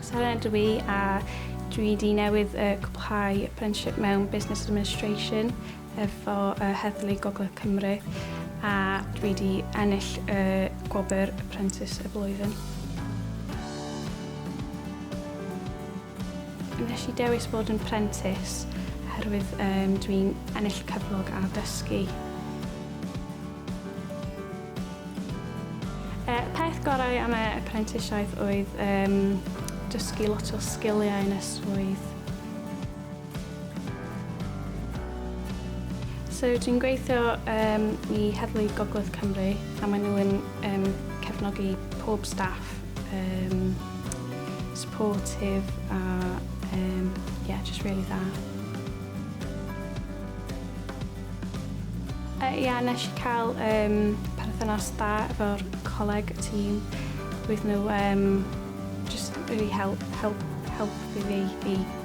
Sara ydw i a dwi wedi newydd yy cwblhau apprenticeship mewn Business Administration efo yy Heddlu Gogledd Cymru a dwi wedi ennill y gwobr Apprentice y Flwyddyn. Wnes i dewis bod yn prentis oherwydd um, dwi'n ennill cyflog a dysgu. Y e, peth gorau am y apprentisiaeth oedd um, dysgu lot o sgiliau yn y swydd. So dwi'n gweithio um, i Heddlu Gogledd Cymru a maen nhw'n um, cefnogi pob staff um, supportive a um, yeah, just really dda. Uh, yeah, nes i cael um, perthynas da efo'r coleg y tîm. Roedd nhw um, just really help, help, help i fi i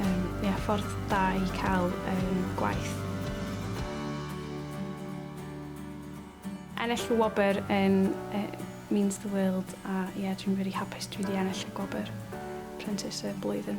Yym ia ffordd da i cael yym gwaith. Ennill y wobr yn yy means the world a ia dwi'n rili hapus dwi 'di ennill y gwobr Apprentice y Blwyddyn.